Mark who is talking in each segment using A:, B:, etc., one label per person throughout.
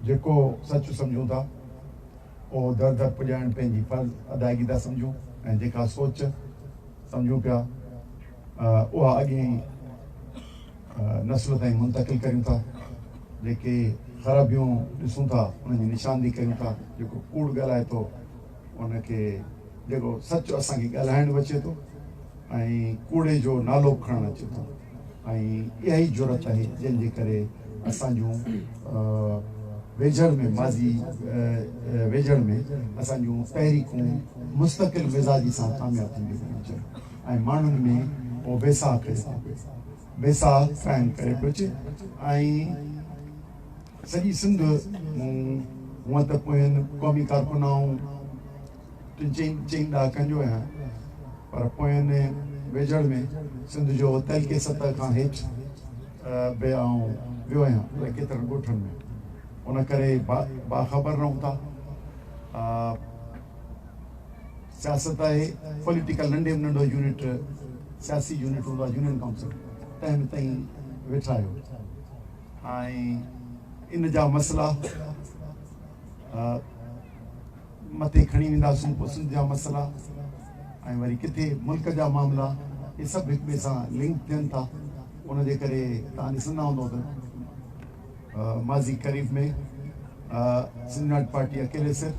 A: جيڪو سچ سمجهون ٿا، اهو در در پڄائڻ پنهنجي فرض ادائگي ٿا سمجهون ۽ جيڪا سوچ سمجهون پيا، اها اڳين نسل تائين منتقل ڪريون ٿا. جيڪي خرابيون ڏسون ٿا، انهن جي نشاندهي ڪريون ٿا. جيڪو ڪوڙ ڳالهائي ٿو، ان کي جيڪو سچ اسان کي ڳالهائڻ به اچي ٿو ۽ ڪوڙي جو نالو به کڻڻ اچي ٿو. ۽ اها ئي جرئت آهي جنهن جي ڪري اسان جون ويجهڙ ۾ ماضي ويجهڙ ۾ اسان جون تحريڪون مستقل مزاجي سان ڪامياب ٿينديون پيون اچن ۽ ماڻهن ۾ اهو بيساهه پيدا ٿي پئي بيساهه قائم ڪري پيو اچي ۽ سڄي سنڌ مون هونئن ته پوين قومي ڪارڪنائون ٽن چئن چئن ڏهاڪن جو آهيان پر پوئين ويجهڙ ۾ سنڌ جو تعلقي سطح کان هيٺ به آئون ويو آهيان الاء ڪيترن ڳوٺن ۾ ان ڪري باخبر رهون ٿا سياست آهي پوليٽيڪل ننڍي ۾ ننڍو يونٽ سياسي يونٽ هوندو آهي يونين ڪائونسل تنهن ۾ تائين ويٺا آهيو ۽ ان جا مسئلا مٿي کڻي وينداسون پوء سنڌ جا مسئلا ۽ وري ڪٿي ملڪ جا معاملا اهي سڀ هڪ ٻئي سان لنڪ ٿين ٿا ان جي ڪري توهان ڏسندا هوندو ته ماضي قريب ۾ سنڌ ناٽ پارٽي اڪيلي سر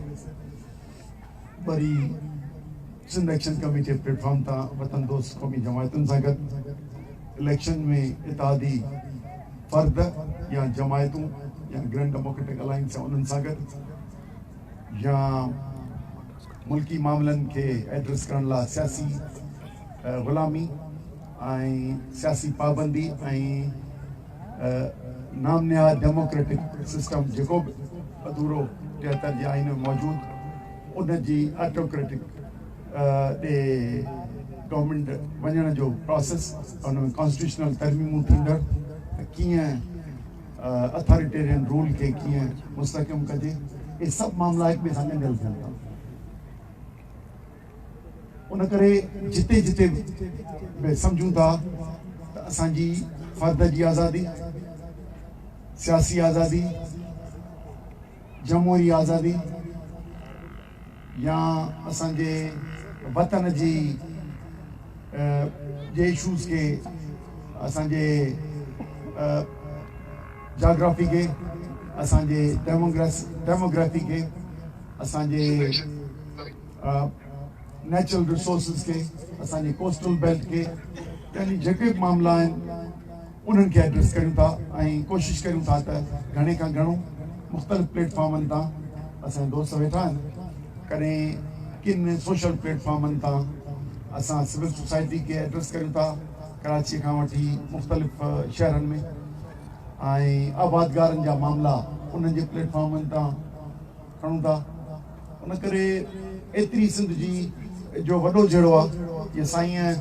A: وري Sindh action committee platform تان وطن دوست قومي جماعتن سان گڏ الیڪشن ۾ اتحادي فرد يا جماعتون يا گرينڊ ڊيموڪريٽڪ الائنس انهن سان گڏ يا ملڪي معاملن کي ايڊريس ڪرڻ لاء سياسي غلامي ۽ سياسي پابندي ۽ نام نهاد ڊيموڪريٽڪ سسٽم جيڪو به اڌورو ٽيهتر جي آئين ۾ موجود ان جي آٽوڪريٽڪ ڏي گورنمينٽ وڃڻ جو پراسيس ان ۾ ڪانسٽيٽيوشنل ترميمون ٿيندڙ ته ڪيئن اٿاريٽيرين رول کي ڪيئن مستحڪم ڪجي اهي سڀ معاملا هڪ ٻئي سان ڳنڍيل ٿين ٿا ان ڪري جتي جتي به سمجهون ٿا ته اسان جي فرد جي آزادي سياسي آزادي جمهوري آزادي يا اسان جي وطن جي جي اشوز کي اسان جي جاگرافي کي اسان جي ڊيموگرافي کي اسان جي نيچرل رسورسز کي اسان جي ڪوسٽل بيلٽ کي يعني جيڪي به معاملا آهن انهن کي ايڊريس ڪريون ٿا ۽ ڪوشش ڪريون ٿا ته گهڻي کان گهڻو مختلف پليٽ فارمن تان اسان جا دوست ويٺا آهن ڪڏهن ڪن سوشل پليٽ فارمن تان اسان سول سوسائٽي کي ايڊريس ڪريون ٿا ڪراچي کان وٺي مختلف شهرن ۾ ۽ آبادگارن جا معاملا انهن جي پليٽ فارمن تان کڻون ٿا ان ڪري ايتري سنڌ جي جو وڏو جهيڙو آهي جي سائين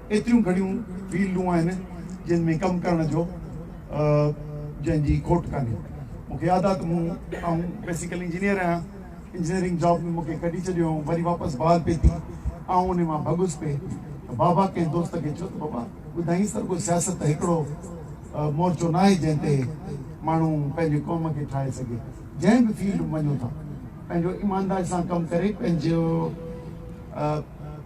A: ايتريون گهڻيون فيلڊون آهن جن ۾ ڪم ڪرڻ جو جنهن جي کوٽ ڪانهي. مون کي ياد آهي ته مون آئون بيسيڪل انجنيئر آهيان. انجنيئرنگ جاب ۾ مون کي ڪڍي ڇڏيو هئائون وري واپس بحال پئي ٿي. آئون انهي مان ڀڳس پئي ته بابا ڪنهن دوست کي چيو ته بابا ٻڌائينس ته رڳو سياست ته هڪڙو مورچو ناهي جنهن تي ماڻهو پنهنجي قوم کي ٺاهي سگهي. جنهن به فيلڊ ۾ وڃو ٿا. پنهنجو ايمانداري سان ڪم ڪري پنهنجو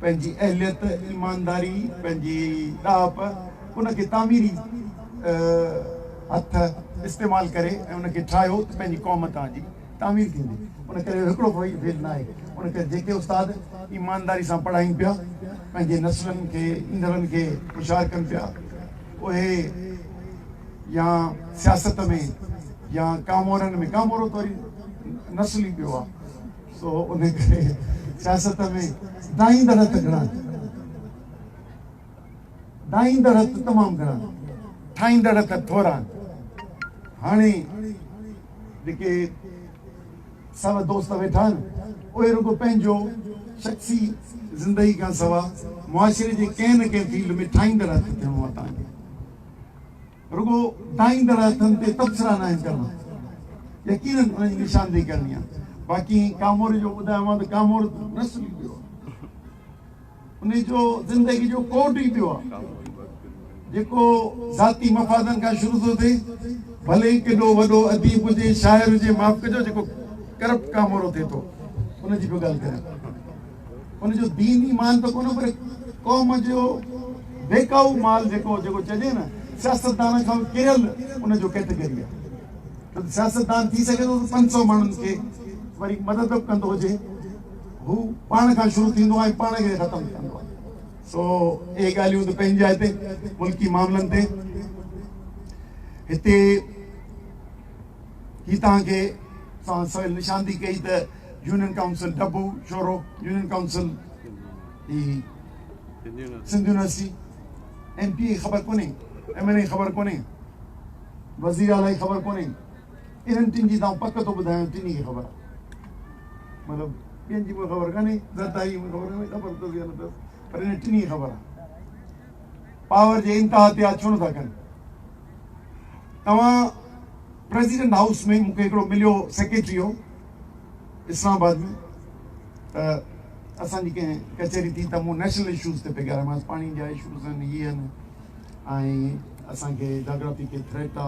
A: پنهنجي اهليت ايمانداري پنهنجي ڏاهپ ان کي تعميري هٿ استعمال ڪري ۽ ان کي ٺاهيو ته پنهنجي قوم توهان جي تعمير ٿيندي ان ڪري اهو هڪڙو فيل فيل نه آهي ان ڪري جيڪي استاد ايمانداري سان پڙهائين پيا پنهنجي نسلن کي ايندڙن کي هوشيار ڪن پيا اهي يا سياست ۾ يا ڪامورن ۾ ڪامورو ته وري نسلي پيو آهي سو ان ڪري سياست ۾ ڊاهيندڙ هٿ گهڻا ڊاهيندڙ هٿ تمام گهڻا ٺاهيندڙ هٿ ٿورا هاڻي جيڪي سر دوست ويٺا آهن، اهي رڳو پنهنجو شخصي زندگي کان سوا معاشري جي ڪنهن نه ڪنهن فيلڊ ۾ ٺاهيندڙ هٿ ٿيڻو آهي تان ڪري رڳو ٺاهيندڙ هٿن تي تبصرا ناهن ڪرڻا، يقينن انهن جي نشاندهي ڪرڻي آهي، باقي ڪاموري جو ٻڌايومانء ته ڪامورو ته نسل ئي ٻيو آهي. ان جو زندگي جو ڪوڊ ئي ٻيو آهي جيڪو ذاتي مفادن کان شروع ٿو ٿئي ڀلي ئي ڪيڏو وڏو اديب هجي شاعر هجي معاف ڪجو جيڪو ڪرپٽ ڪامورو ٿئي ٿو ان جي به ڳالهه ڪريان ان جو دين ئي مان ته ڪونه پر قوم جو بيڪاو مال جيڪو جيڪو چئجي نه سياستدان کان ڪريل ان جو ڪيٽيگري آهي سياستدان ٿي سگهي ٿو ته پنج سؤ ماڻهن کي وري مدد به ڪندو هجي هو پاڻ کان شروع ٿيندو آهي ۽ پاڻ کي ختم ٿي ويندو آهي. سو اهي ڳالهيون ته پنهنجي جاء تي ملڪي معاملن تي هتي هي توهان کي سان سويل نشان ٿي ڪئي ته يونين ڪائونسل ڊبو شورو يونين ڪائونسل هي Sindh university M P A خبر ڪونهي ايم اين اي خبر ڪونهي وزير اعليٰ خبر ڪونهي انهن ٽن جي ته آئون پڪ ٿو ٻڌايان ٽنهي کي خبر آهي مطلب ٻين جي مونکي خبر ڪانهي زرداري مونکي خبر ڪانهي خبر اٿس يا نه اٿس پر انهن ٽنهي کي خبر آهي پاور جي انتها تي آ ڇو نٿا ڪن توهان پريزيڊنٽ هائوس ۾ مونکي هڪڙو مليو سيڪريٽري هو اسلام آباد ۾ ته اسان جي ڪنهن ڪچهري ٿي ته مون نيشنل اشوز تي پئي ڳالهايمانس پاڻي جا اشوز آهن هي آهن ۽ اسان کي جاگرافي کي ٿريٽ آ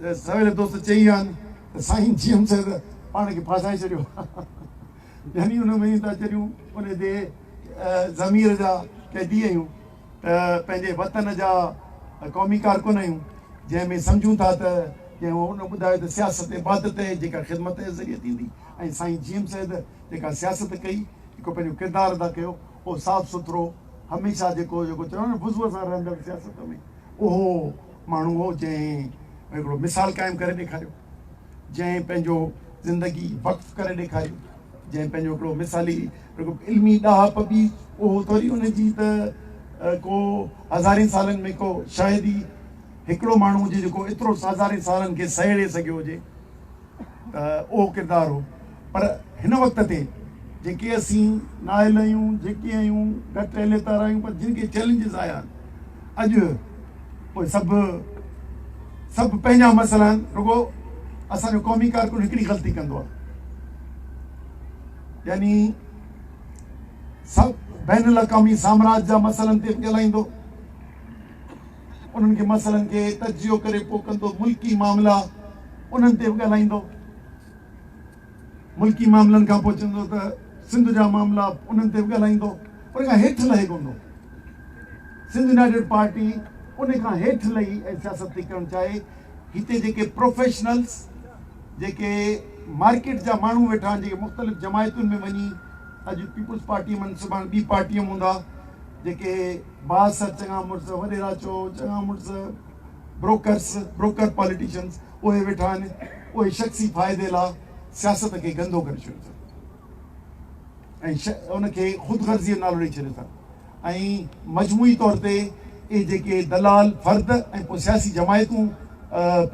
A: ته سويري دوست چئي ويا آهن ته سائين جي ايم صاحب پاڻ کي ڦاسائي ڇڏيو يعني ان ۾ ته جڏهن ان جي ضمير جا قيدي آهيون ته پنهنجي وطن جا قومي ڪارڪن آهيون جنهن ۾ سمجهون ٿا ته جنهن ان ٻڌايو ته سياست عبادت آهي جيڪا خدمت جي ذريعي ٿيندي ۽ سائين جي ايم سيد جيڪا سياست ڪئي جيڪو پنهنجو ڪردار ادا ڪيو اهو صاف سٿرو هميشه جيڪو جيڪو چيو نه وضوء سان رهندڙ سياست ۾ اهو ماڻهو هو جنهن هڪڙو مثال قائم ڪري ڏيکاريو جنهن پنهنجو زندگي وقف ڪري ڏيکاري جنهن پنهنجو هڪڙو مثالي علمي ڏاهپ به اهو ٿوري ان جي ته ڪو هزارين سالن ۾ ڪو شايد ئي هڪڙو ماڻهو هجي جيڪو ايترو هزارين سالن کي سهيڙي سگهيو هجي اهو ڪردار هو پر هن وقت تي جيڪي اسين نااهل آهيون جيڪي آهيون گهٽ اهليتار آهيون پر جن کي چئلينجز آيا اڄ اهي سڀ سڀ پنهنجا مسئلا آهن رڳو اسان جو قومي ڪارڪن هڪڙي غلطي ڪندو آهي يعني سڀ بين الاقوامي سامراج جا مسئلن تي ڳالهائيندو انهن کي مسئلن کي تجزيو ڪري پوء ڪندو ملڪي معاملا انهن تي به ڳالهائيندو ملڪي معاملن کان پوء چوندو ته سنڌ جا معاملا انهن تي به ڳالهائيندو ان کان هيٺ لهي ڪوندو سنڌ يونائيٽيڊ پارٽي ان کان هيٺ لهي ۽ سياست ٿي ڪرڻ چاهي هتي جيڪي پروفيشنلز جيڪي مارڪيٽ جا ماڻهو ويٺا آهن جيڪي مختلف جماعتن ۾ وڃي اڄ پيپلز پارٽي من سڀاڻ ٻي پارٽي هوندا جيڪي باس، چڱا مڙس، وڏيرا چئو، چڱا مڙس، بروڪرس، Broker، پاليٽيشنز، اهي ويٺا آهن، اهي شخصي فائدي لاء سياست کي گندو ڪري ڇڏيو اٿن ۽ ان کي خود غرضيء جو نالو ڏئي ڇڏيو اٿن ۽ مجموعي طور تي اهي جيڪي دلال فرد ۽ پوء سياسي جماعتون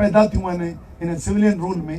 A: پيدا ٿيون آهن هن سولين رول ۾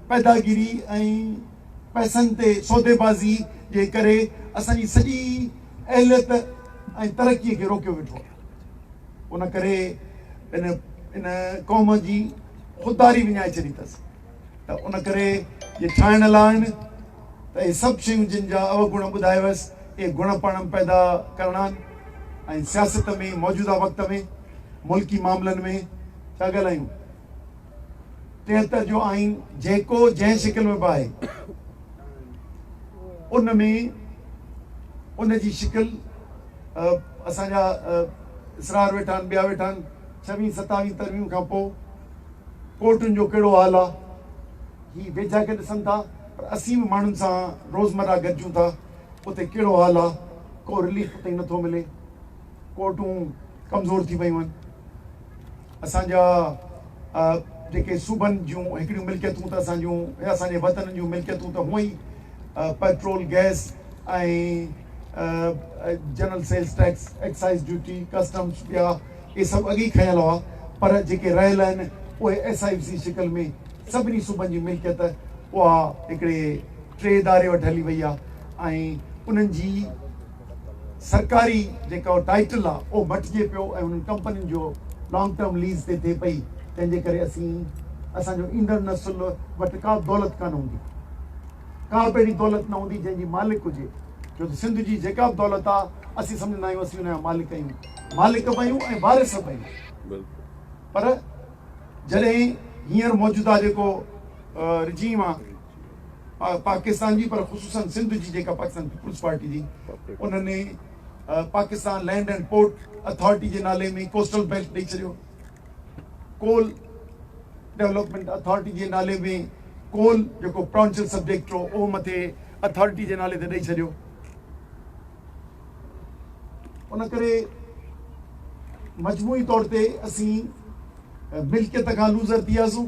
A: پيداگيري ۽ پئسن تي سوديبازي جي ڪري اسان جي سڄي اهليت ۽ ترقي کي روڪيو ويٺو آهي. ان ڪري ان ان قوم جي خودداري وڃائي ڇڏي اٿس ته ان ڪري جي ٺاهڻ لاء آهن ته اهي سڀ شيون جن جا اوگڻ ٻڌايو هيس اهي گڻ پاڻ پيدا ڪرڻا آهن ۽ سياست ۾ موجوده وقت ۾ ملڪي معاملن ۾ ڇا ڳالهايون. ٽيهتر جو آئين جيڪو جنهن شڪل ۾ به آهي ان ۾ ان جي شڪل اسان جا اسرار ويٺا آهن ٻيا ويٺا آهن ڇويهين ستاويهين ترميم کان پوء ڪورٽن جو ڪهڙو حال آ هي ويجها کي ڏسن ٿا پر اسين به ماڻهن سان روزمرا گڏجون ٿا اتي ڪهڙو حال آ ڪو رليف تائين نٿو ملي ڪورٽون ڪمزور ٿي ويون آهن اسان جا جيڪي صوبن جون هڪڙيون ملڪيتون ته اسان جون يا اسان جي وطنن جون ملڪيتون ته هونء ئي petrol, gas ۽ general sales tax, excise duty, customs ٻيا اهي سڀ اڳ ئي کنيل هئا پر جيڪي رهيل آهن اهي ايس آء ايف جي شڪل ۾ سڀني صوبن جي ملڪيت اها هڪڙي ٽي اداري وٽ هلي وئي آهي ۽ انهن جي سرڪاري جيڪو ٽائيٽل آ اهو مٽجي پيو ۽ انهن ڪمپنين جو لانگ ٽرم ليز تي ٿئي پئي تنهن جي ڪري اسين اسان جو ايندڙ نسل وٽ ڪا دولت ڪانه هوندي ڪا به اهڙي دولت نه هوندي جنهن جي مالڪ هجي ڇو ته سنڌ جي جيڪا به دولت آ اسين سمجهندا آهيون اسين ان جا مالڪ آهيون مالڪ به آهيون ۽ وارث به آهيون پر جڏهن هينئر موجوده جيڪو رجيم آ پاڪستان جي پر خصوصن سنڌ جي جيڪا پاڪستان پيپلز پارٽي جي ان ني Pakistan land and port authority جي نالي ۾ ڪوسٽل بيلٽ ڏئي ڇڏيو ڪول ڊيولپمنٽ اٿارٽي جي نالي ۾ ڪول جيڪو پرانچل سبجيڪٽ هو اهو مٿي اٿارٽي جي نالي تي ڏئي ڇڏيو ان ڪري مجموعي طور تي اسين ملڪيت کان لوزر ٿي وياسون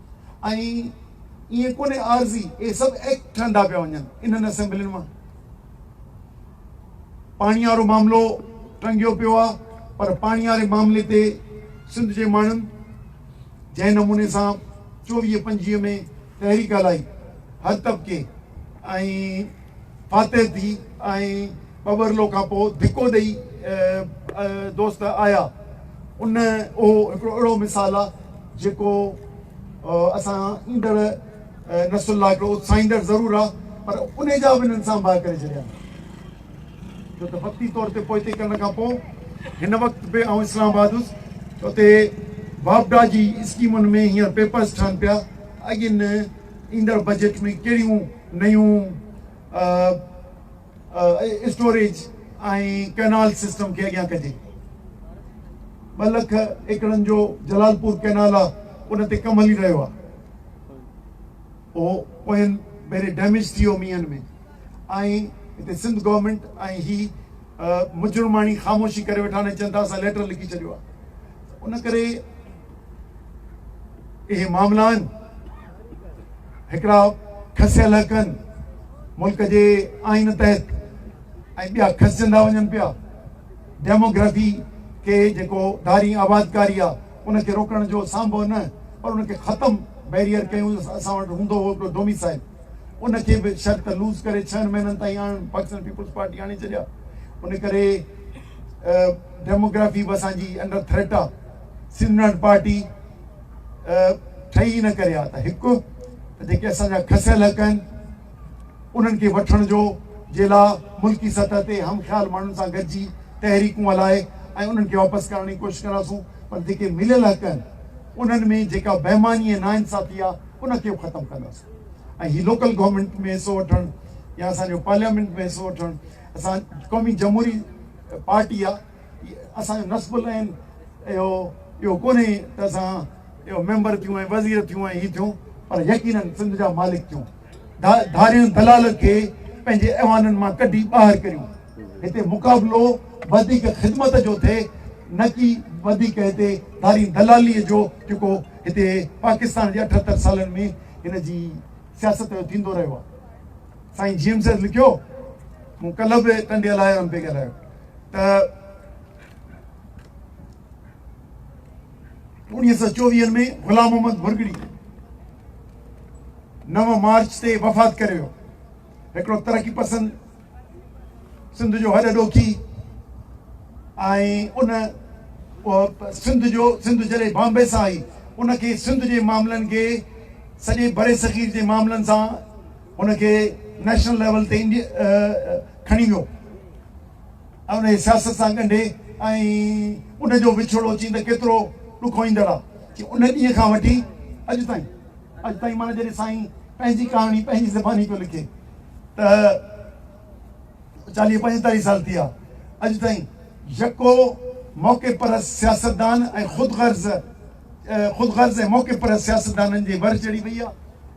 A: ۽ ائين ڪونهي عارضي اهي سڀ ايڪٽ ٺهندا پيا وڃن انهن اسيمبلين مان پاڻي وارو معاملو ٽنگيو پيو آهي پر پاڻي واري معاملي تي سنڌ جي ماڻهن جنهن نموني سان چوويهه پنجويهه ۾ تحريڪ هلائي هر طبقي ۽ فاتح ٿي ۽ پورلو کان پوء ڌڪو ڏئي دوست آيا ان اهو هڪڙو اهڙو مثال آ جيڪو اسان ايندڙ نسل لاء هڪڙو اتساهيندڙ ضرور آ پر انهي جا به هنن سان باهه ڪري ڇڏيا آهن ڇو ته وقتي طور تي پوئتي ڪرڻ کان پوء هن وقت به آئون اسلام آباد هوس ته اتي واپڊا جي اسڪيمن ۾ هينئر پيپرز ٺهن پيا اڳين ايندڙ بجيٽ ۾ ڪهڙيون نيون اسٽوريج ۽ ڪئنال سسٽم کي اڳيان ڪجي، ٻه لک ايڪڙن جو جلالپور ڪئنال آ ان تي ڪم هلي رهيو آ، اهو پوئين ڀيري ڊيميج ٿي ويو مينهن ۾ ۽ هتي سنڌ گورنمينٽ ۽ هي مجرماڻي خاموشي ڪري ويٺا آهن ۽ چون ٿا اسان ليٽر لکي ڇڏيو آ ته ان ڪري اهي معاملا آهن هڪڙا کسيل حق آهن ملڪ جي آئين تحت ۽ ٻيا کسجندا وڃن پيا ڊيموگرافي کي جيڪو ڌاري آبادڪاري آهي ان کي روڪڻ جو سانڀو نه پر ان کي ختم بيريئر ڪيون اسان وٽ هوندو هو هڪڙو ڊوميسائل ان کي به شرط لوز ڪري ڇهن مهينن تائين آڻن پاڪستان پيپلز پارٽي آڻي ڇڏيا ان ڪري ڊيموگرافي به اسانجي انڊر ٿريٽ آهي سندن پارٽي ٺهي ان ڪري آهي ته هڪ ته جيڪي اسان جا کسيل حق آهن انهن کي وٺڻ جو جي لا ملڪي سطح تي هم خيال ماڻهن سان گڏجي تحريڪون هلائي ۽ انهن کي واپس ڪرائڻ جي ڪوشش ڪنداسون پر جيڪي مليل حق آهن انهن ۾ جيڪا بيماني ۽ ناانصافي آهي ان کي به ختم ڪنداسون ۽ هي لوڪل گورنمنٽ ۾ حصو وٺڻ يا اسان جو پارليامينٽ ۾ حصو وٺڻ اسان قومي جمهوري پارٽي آهي اسان جو نصب العين اهو اهو ڪونهي ته اسان اهو ميمبر ٿيون ۽ وزير ٿيون ۽ هي ٿيون پر يقينن سنڌ جا مالڪ ٿيون ڌارين دلال کي پنهنجي ايوانن مان ڪڍي ٻاهر ڪريون هتي مقابلو وڌيڪ خدمت جو ٿئي نه ڪي وڌيڪ هتي ڌارين دلالي جو جيڪو هتي پاڪستان جي اٺهتر سالن ۾ هن جي سياست جو ٿيندو رهيو آهي سائين جيمز لکيو مون ڪلهه به ٽنڊي لاء پي ڳالهايو ته اڻيهه سؤ چوويهن ۾ غلام محمد ڀرڳڙي نو مارچ تي وفات ڪري ويو هڪڙو ترقي پسند سنڌ جو هڏ ڏوکي ۽ ان سنڌ جو سنڌ جڏهن بامبي سان آئي ان کي سنڌ جي معاملن کي سڄي بري صغير جي معاملن سان ان کي نيشنل ليول تي کڻي ويو ۽ ان کي سياست سان ڳنڍي ۽ ان جو وڇوڙو چين ته ڪيترو ڏکوئيندڙ آ چي ان ڏينهن کان وٺي اڄ تائين اڄ تائين معنيٰ جڏهن سائين پنهنجي ڪهاڻي پنهنجي زباني پيو لکي ته چاليهه پنجيتاليهه سال ٿي ويا اڄ تائين يڪو موقعي پرست سياستدان ۽ خود غرض خود غرض ۽ موقعي پرست سياستدانن جي ور چڙهي وئي آ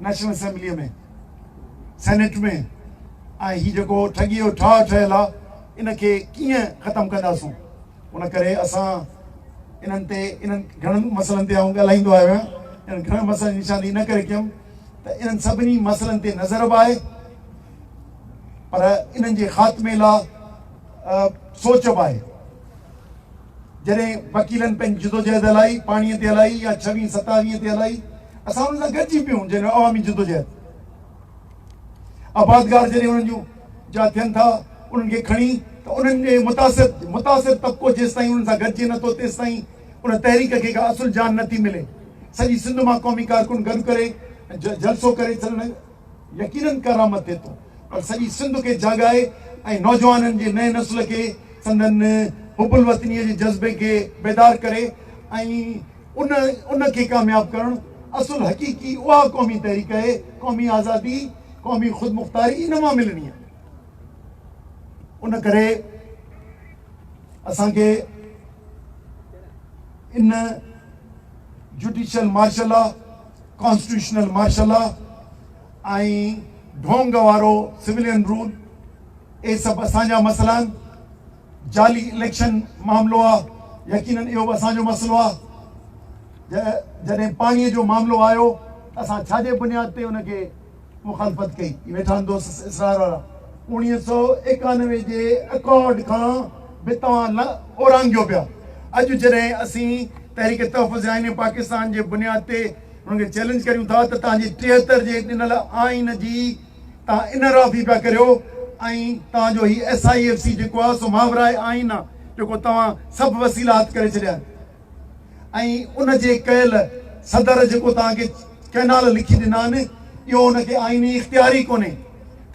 A: نيشنل اسيمبليء ۾ سينيٽ ۾ ۽ هي جيڪو ٺڳيء جو ٺاهه ٺهيل آهي ان کي ڪيئن ختم ڪنداسون ان ڪري اسان انهن تي انهن گهڻن مسئلن تي آئون ڳالهائيندو آيو آهيان انهن گهڻن مسئلن جي نشاندهي ان ڪري ڪيم ته انهن سڀني مسئلن تي نظر به آهي پر انهن جي خاتمي لاء سوچ به آهي جڏهن وڪيلن پنهنجي جدوجهد هلائي، پاڻيء تي هلائي يا ڇويهين ستاويهين تي هلائي، اسان انهن سان گڏجي پيون جنهن جو عوامي جدوجهد آبادگار جڏهن انهن جون جا ٿين ٿا انهن کي کڻي ته انهن ڏي متاثر متاثر طبقو جيستائين انهن سان گڏجي نه ٿو تيستائين ان تحريڪ کي ڪا اصل جان نه ٿي ملي سڄي سنڌ مان قومي ڪارڪن گڏ ڪري جلسو ڪري سندن يقينن ڪرامت ٿئي ٿو پر سڄي سنڌ کي جاڳائي ۽ نوجوانن جي نئين نسل کي سندن حب الوطنيء جي جذبي کي بيدار ڪري ۽ ان ان کي ڪامياب ڪرڻ اصل حقيقي اها قومي تحريڪ اهي قومي آزادي قومي خودمختاري ان مان ملڻي آهي ان ڪري اسان کي ان judicial martial law constitutional martial law ۽ ڍونگ وارو سولين رول اهي سڀ اسان جا مسئلا آهن، جعلي اليڪشن معاملو آهي، يقينن اهو به اسان جو مسئلو آهي، جڏهن پاڻي جو معاملو آيو ته اسان ڇا جي بنياد تي ان کي مخالفت ڪئي ويٺا آهن دوست اسرار وارا اوڻيهه سؤ ايڪانوي جي اڪارڊ کان به توهان اورانگيو پيا اڄ جڏهن اسين تحريڪ تحفظ آئين پاڪستان جي بنياد تي انهن کي چيلنج ڪريون ٿا ته توهان جي ٽيهتر جي ڏنل آئين جي توهان انحرافي پيا ڪريو ۽ توهان جو هي ايس آئي ايف سي جيڪو آهي سو ماورائي آئين آهي جيڪو توهان سڀ وسيلا هٿ ڪري ڇڏيا آهن ۽ ان جي ڪيل صدر جيڪو توهان کي ڪئنال لکي ڏنا آهن اهو ان کي آئيني اختيار ئي ڪونهي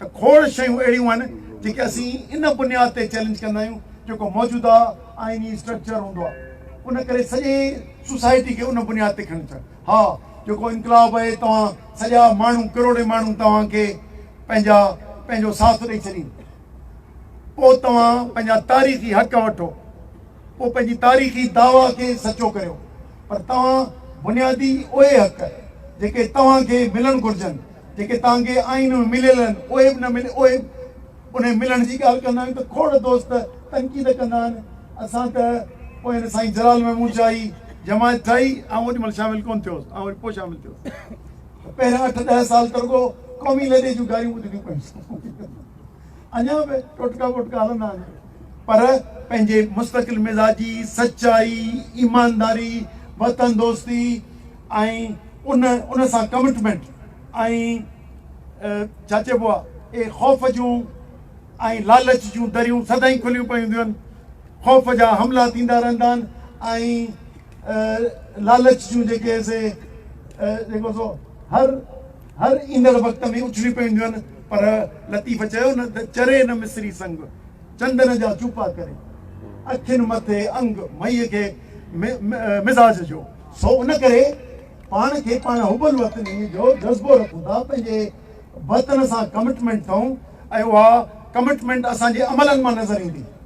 A: ته کوڙ شيون اهڙيون آهن جيڪي اسين ان بنياد تي چئلينج ڪندا آهيون جيڪو موجوده آئيني اسٽرڪچر هوندو آهي ان ڪري سڄي سوسائٽي کي ان بنياد تي کڻي اچڻ ها جيڪو انقلاب آهي توهان سڄا ماڻهو ڪروڙين ماڻهو توهان کي پنهنجا پنهنجو ساٿ ڏئي ڇڏين پوء توهان پنهنجا تاريخي حق وٺو پوء پنهنجي تاريخي دعويٰ کي سچو ڪريو پر توهان بنيادي اهي حق جيڪي توهان کي ملڻ گهرجن جيڪي تهان کي آئين ۾ مليل آهن اهي به نه ملي اهي انهي ملڻ جي ڳالهه ڪندا آهيون ته کوڙ دوست تنقيد ڪندا آهن اسان ته پوء هن سائين جلال محمود جاهي جماعت ٺاهي آئون اوڏي مهل شامل ڪونه ٿيو هوس آئون وري پوء شامل ٿيو هوس پهريان اٺ ڏهه سال ته رڳو قومي لڏي جون گاريون ٻڌڻيون پيون اڃا به ٽوٽڪا ووٽڪا هلندا آهن پر پنهنجي مستقل مزاجي، سچائي، ايمانداري، وطن دوستي ۽ ان ان سان ڪمٽمينٽ ۽ ڇا چئبو آ اهي خوف جون ۽ لالچ جون دريون سدائين کليون پيون هونديون آهن، خوف جا حملا ٿيندا رهندا آهن ۽ لالچ جون جيڪي سي جيڪو سو هر هر ايندڙ وقت ۾ اڇلي پونديون آهن پر لطيف چيو نه ته چري نه مصري سنگ چندن جا چوپا ڪري اکين مٿي انگ مئي کي مزاج جو سو ان ڪري پاڻ کي پاڻ حب الوطني جو جذبو رکون ٿا پنهنجي وطن سان ڪمٽمنٽ ٿئون ۽ اها ڪمٽمنٽ اسان جي عملن مان نظر ايندي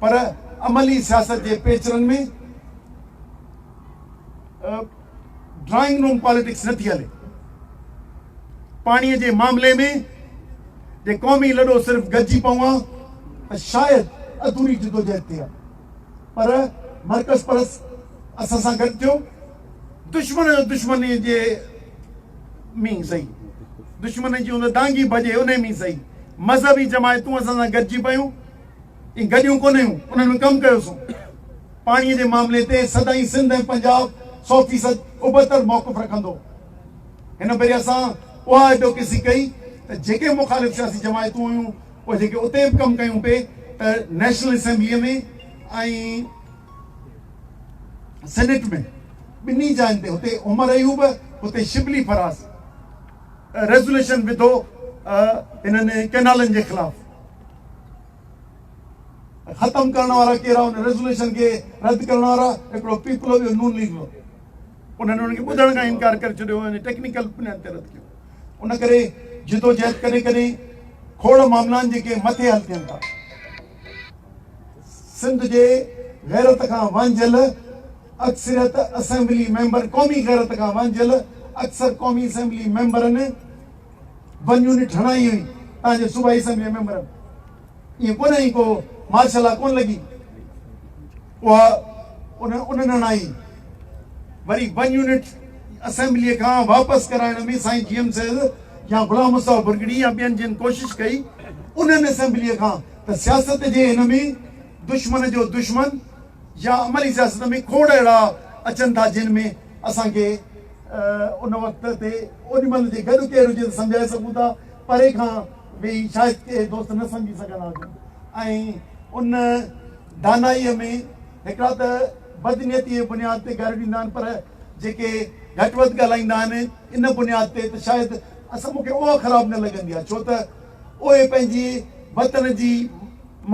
A: پر عملي سياست جي پيچرن ۾ ڊرائنگ روم پاليٽڪس نه ٿي هلي. پاڻيء جي معاملي ۾ جي قومي لڏو صرف گڏجي پوان ته شايد اڌوري جدوجهد ٿئي ها پر مرڪز پرست اسان سان گڏ ٿيو دشمن جو دشمن جي مين سهي دشمن جي ان دانگي ڀڄي انهي مين سهي مذهبي جماعتون اسان سان گڏجي پيون. ۽ گڏيون ڪونهيون انهن ۾ ڪم ڪيو سون پاڻي جي معاملي تي سدائين سنڌ ۽ پنجاب سو فيصد ابتڙ موقف رکندو هن ڀيري اسان اها ايڊوڪيسي ڪئي ته جيڪي مخالف سياسي جماعتون هيون اهي جيڪي اتي به ڪم ڪيون پي ته نيشنل اسيمبلي ۾ ۽ سينيٽ ۾ ٻنهي جاين تي هتي عمر ايوب هتي شبلي فراز ريزوليشن وڌو انهن ڪينالن جي خلاف ختم ڪرڻ وارا ڪير آهن ريزوليوشن کي رد ڪرڻ وارا هڪڙو پيپل هو ٻيو نون ليگ هو انهن انهن کي ٻڌڻ کان انڪار ڪري ڇڏيو هو ٽيڪنيڪل بنياد تي رد ڪيو ان ڪري جدوجهد ڪڏهن ڪڏهن کوڙ معاملان جيڪي مٿي حل ٿين ٿا سنڌ جي غيرت کان وانجهيل اڪثريت اسيمبلي ميمبر قومي غيرت کان وانجهيل اڪثر قومي اسيمبلي ميمبرن ون يونٽ هڻائي هئي تان جو صوبائي اسيمبلي ميمبرن ائين ڪونه هئي ڪو مارشل لا ڪونه لڳي اها انهن هڻائي وري ون يونٽ اسيمبلي کان واپس ڪرائڻ ۾ سائين جي ايم سيد يا غلام مصطفيٰ برگڙي يا ٻين جن ڪوشش ڪئي انهن اسيمبلي کان ته سياست جي هن ۾ دشمن جو دشمن يا عملي سياست ۾ کوڙ اهڙا اچن ٿا جن ۾ اسان کي ان وقت تي اونهي مهل جي گڏ ڪير هجي ته سمجهائي سگهون ٿا، پري کان ويهي شايد ڪي دوست نه سمجهي سگهندا هجن ۽ ان دانائيء ۾ هڪڙا ته بدنيتيء جي بنياد تي گاريون ڏيندا آهن پر جيڪي گهٽ وڌ ڳالهائيندا آهن ان بنياد تي ته شايد اسان مون کي اها خراب نه لڳندي آهي ڇو ته اهي پنهنجي وطن جي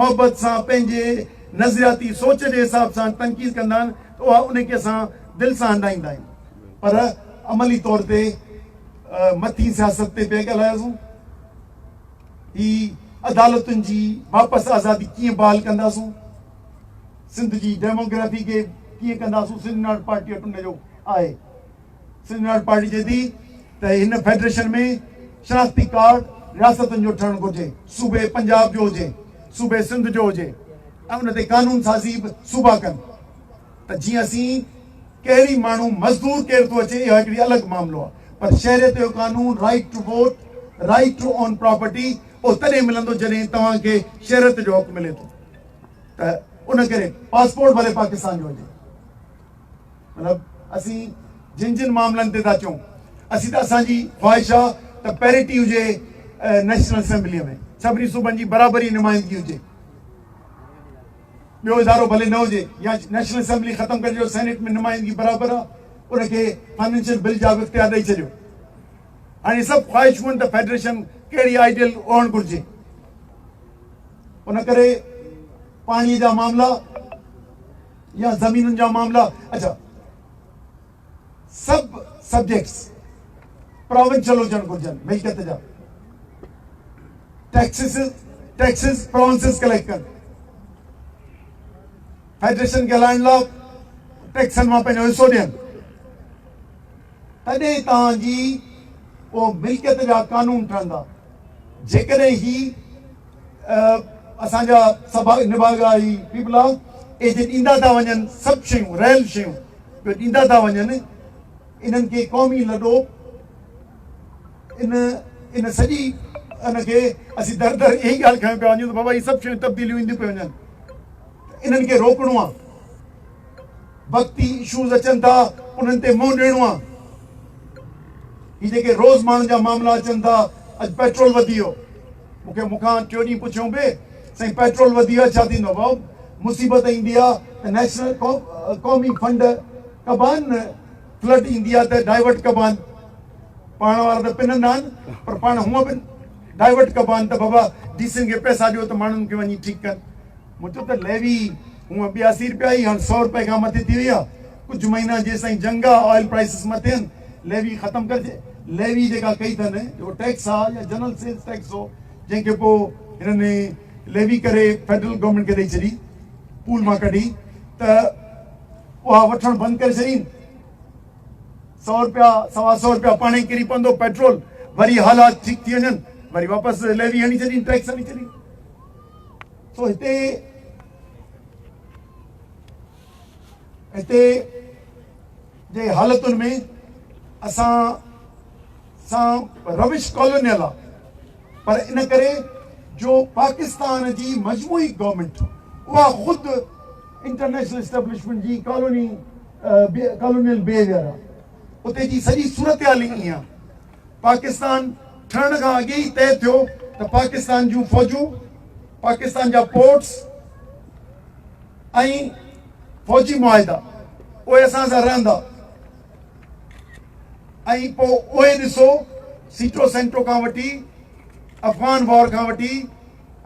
A: محبت سان پنهنجي نظرياتي سوچ جي حساب سان تنقيد ڪندا آهن ته اها انهيء کي اسان دل سان هنڊائيندا آهيون پر عملي طور تي مٿين سياست تي پيا ڳالهاياسون هي عدالتن جي واپس آزادي ڪيئن بحال ڪنداسون سنڌ جي ڊيموگرافي کي ڪيئن ڪنداسون سنڌ ناٽ پارٽي وٽ ان جو آهي سنڌ ناڻ پارٽي چئي ٿي ته هن فيڊريشن ۾ شناختي ڪارڊ رياستن جو ٺهڻ گهرجي، صوبي پنجاب جو هجي، صوبي سنڌ جو هجي ۽ ان تي قانون سازي به صوبا ڪن ته جيئن اسين ڪهڙي ماڻهو مزدور ڪير ٿو اچي اها هڪڙي الڳ معاملو آهي پر شهريت جو قانون right to vote right to own property اهو تڏهن ملندو جڏهن توهان کي شهريت جو حق ملي ٿو ته ان ڪري پاسپورٽ ڀلي پاڪستان جو هجي. مطلب اسين جن جن معاملن تي ٿا چئون اسين ته اسان جي خواهش آ ته پيرٽي هجي نيشنل اسيمبليء ۾ سڀني صوبن جي برابري نمائندگي هجي ٻيو ادارو ڀلي نه هجي يا نيشنل اسيمبلي ختم ڪري جو سينيٽ ۾ نمائندگي برابر آ ان کي فائنينشل بل جا به اختيار ڏئي ڇڏيو هاڻي سڀ خواهشون آهن ته فيڊريشن ڪهڙي آئيڊيل هئڻ گهرجي ان ڪري پاڻي جا معاملا يا زمينن جا معاملا اچا سب سبجيڪٽس پراونشل هجڻ گهرجن ملڪيت جا ٽيڪسز ٽيڪسز پراونسز ڪليڪٽ ڪن فيڊريشن کي هلائڻ لاء ٽيڪسن مان پنهنجو حصو ڏين تڏهن تان جي او ملڪيت جا قانون ٺهندا جيڪڏهن هي اسان جا سڀا نڀاڳا هي پيپلا اي جي ڏيندا ٿا وڃن سڀ شيون ريل شيون جو ڏيندا ٿا وڃن انهن کي قومي لڏو ان ان سڄي ان کي اسين در در اهي ڳالهه کڻي پيا وڃون ته بابا هي سڀ شيون تبديليون اينديون پيون وڃن انهن کي روڪڻو آ وقتي اشوز اچن ٿا انهن تي منهن ڏيڻو آ هي جيڪي روز ماڻهن جا معاملا اچن ٿا اڄ پيٽرول وڌي ويو مون کي مون کان ٽيو ڏينهن پڇيو پئي سائين پيٽرول وڌي ويو آهي ڇا ٿيندو بئو مصيبت ايندي آهي ته نيشنل قومي فنڊ ڪبا آهن نه فلڊ ايندي آهي ته ڊائيورٽ ڪبا آهن پاڻ وارا ته پنندا آهن پر پاڻ هونء به ڊائيورٽ ڪبا آهن ته بابا ڊي سين کي پئسا ڏيو ته ماڻهن کي وڃي ٺيڪ ڪن مجھه ته ليوي هونء به اسي رپيا ئي هاڻ سؤ رپئي کان مٿي ٿي وئي آ ڪجھه مهينا جيستائين جنگ آ آئل پرائسز نه ٿين ليوي ختم ڪرجي ليوي جيڪا ڪئي ٿن جيڪو ٽيڪس آ يا جنرل سيلز ٽيڪس هو جنهن کي پو هنن ليوي ڪري فيڊرل گورنمينٽ کي ڏئي ڇڏي پول مان ڪڍي ته اها وٺڻ بند ڪري ڇڏين سؤ رپيا سوا سؤ رپيا پاڻي ڪري پوندو پيٽرول وري حالات ٺيڪ ٿي وڃن وري واپس ليوي هڻي ڇڏين ٽيڪس هڻي ڇڏين سو هتي هتي جي حالتن ۾ اسان سان روش ڪالونيل آ پر ان ڪري جو پاڪستان جي مجموعي گورنمنٽ اها خود انٽرنيشنل اسٽيبلشمنٽ جي ڪالوني ڪالونيل بيهيويئر آ اتي جي سڄي صورتحال ئي ائين آ پاڪستان ٺهڻ کان اڳي ئي طئي ٿيو ته پاڪستان جون فوجون، پاڪستان جا پورٽس ۽ فوجي معاهدا اهي اسان سان رهندا ۽ پوء اهي ڏسو سيٽو سينٽو کان وٺي افغان وار کان وٺي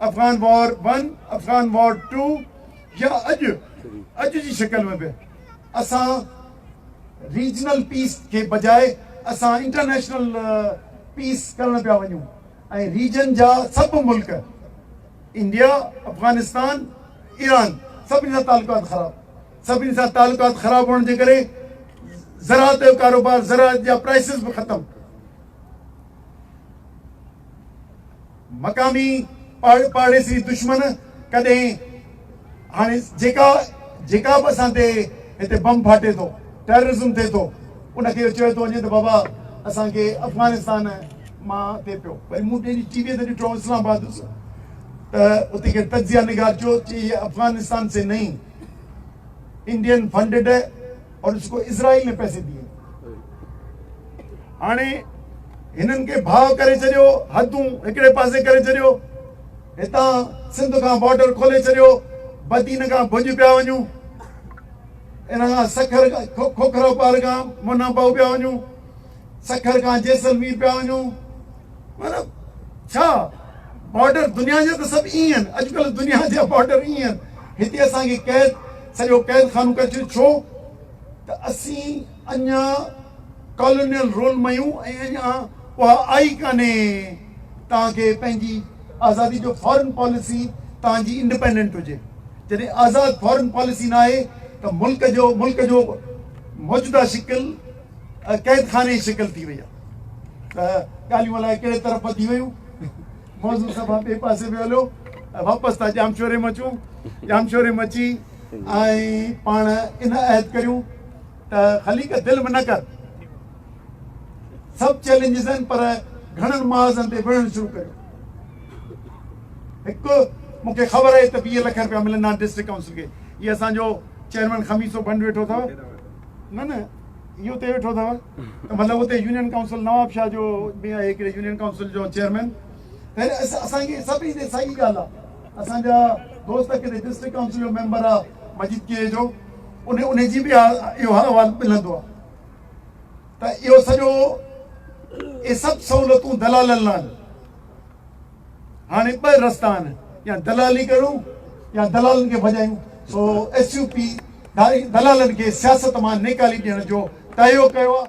A: Afghan war one, Afghan war two يا اڄ اڄ جي شڪل ۾ به اسان ريجنل پيس کي بجاء اسان انٽرنيشنل پيس ڪرڻ پيا وڃون ۽ ريجن جا سڀ ملڪ انڊيا افغانستان ايران سڀني سان تعلقات خراب سڀني سان تعلقات خراب هئڻ جي ڪري زراعت جو ڪاروبار زراعت جا پرائسز به ختم مقامي پاڙ پاڙيسري دشمن ڪڏهن هاڻي جيڪا جيڪا به اسان تي هتي بم ڦاٽي ٿو ٽيررزم ٿئي ٿو ان کي چيو ٿو وڃي ته بابا اسان کي افغانستان مان ٿئي پيو وري مون ٽي ٽي وي تي ڏٺو اسلام آباد هوس ته اتي کي تجزيه نگار چيو چي هي افغانستان سي نئي انڊين فنڊيڊ اور اس کو اسرائيل نے پيسے ديئے هاڻي هنن کي ڀاء ڪري ڇڏيو حدون هڪڙي پاسي ڪري ڇڏيو هتان سنڌ کان بارڊر کولي ڇڏيو بدين کان ڀڄ پيا وڃون ان کان سکر کوکرو پار کان منا باهو پيا وڃون سکر کان جيسلمير پيا وڃون مطلب ڇا بارڊر دنيا جا ته سڀ ائين آهن اڄڪلهه دنيا جا بارڊر ائين آهن هتي اسان کي قيد سڄو قيد خانو ڪري ڇڏيو ڇو ته اسين اڃا ڪالونيل رول ۾ آهيون ۽ اڃا اها آئي ڪانهي توهان کي پنهنجي آزادي جو فارن پاليسي توهان جي انڊيپينڊنٽ هجي جڏهن آزاد فارن پاليسي نه آهي ته ملڪ جو ملڪ جو موجوده شڪل قيد خاني جي شڪل ٿي وئي آهي ته ڳالهيون الائي ڪهڙي طرف وڌي ويون موضوع سڀا ٻئي پاسي به هليو واپس ٿا ڄامشوري ۾ اچون ڄامشوري ۾ اچي ۽ پاڻ ان عهد ڪريون ته خليق دل ۾ نه ڪر سڀ چيلنجز آهن پر گھڻن محاذن تي وڙهڻ شروع ڪريو هڪ مون کي خبر آهي ته ويهه لک رپيا ملندا آهن ڊسٽرڪٽ ڪائونسل کي هي اسانجو چيئرمين خميسو بنڊ ويٺو اٿو نه نه اهو تي ويٺو اٿو ته مطلب اتي يونين ڪائونسل نواب شاهه جو به آهي هڪڙي يونين ڪائونسل جو چيئرمين هن اسان کي سڀ ايندي ساڳي ڳالهه آهي اسان جا دوست ڪيتري ڊسٽرڪٽ ڪائونسل جو ميمبر آهي مجيد ڪي جو ان ان جي به اهو احوال ملندو آهي ته اهو سڄو اهي سڀ سهولتون دلالن لاء هاڻي ٻه رستا آهن يا دلالي ڪرون يا دلالن کي ڀڄايون سو ايس يو پي دلالن کي سياست مان نيڪالي ڏيڻ جو تهيو ڪيو آهي.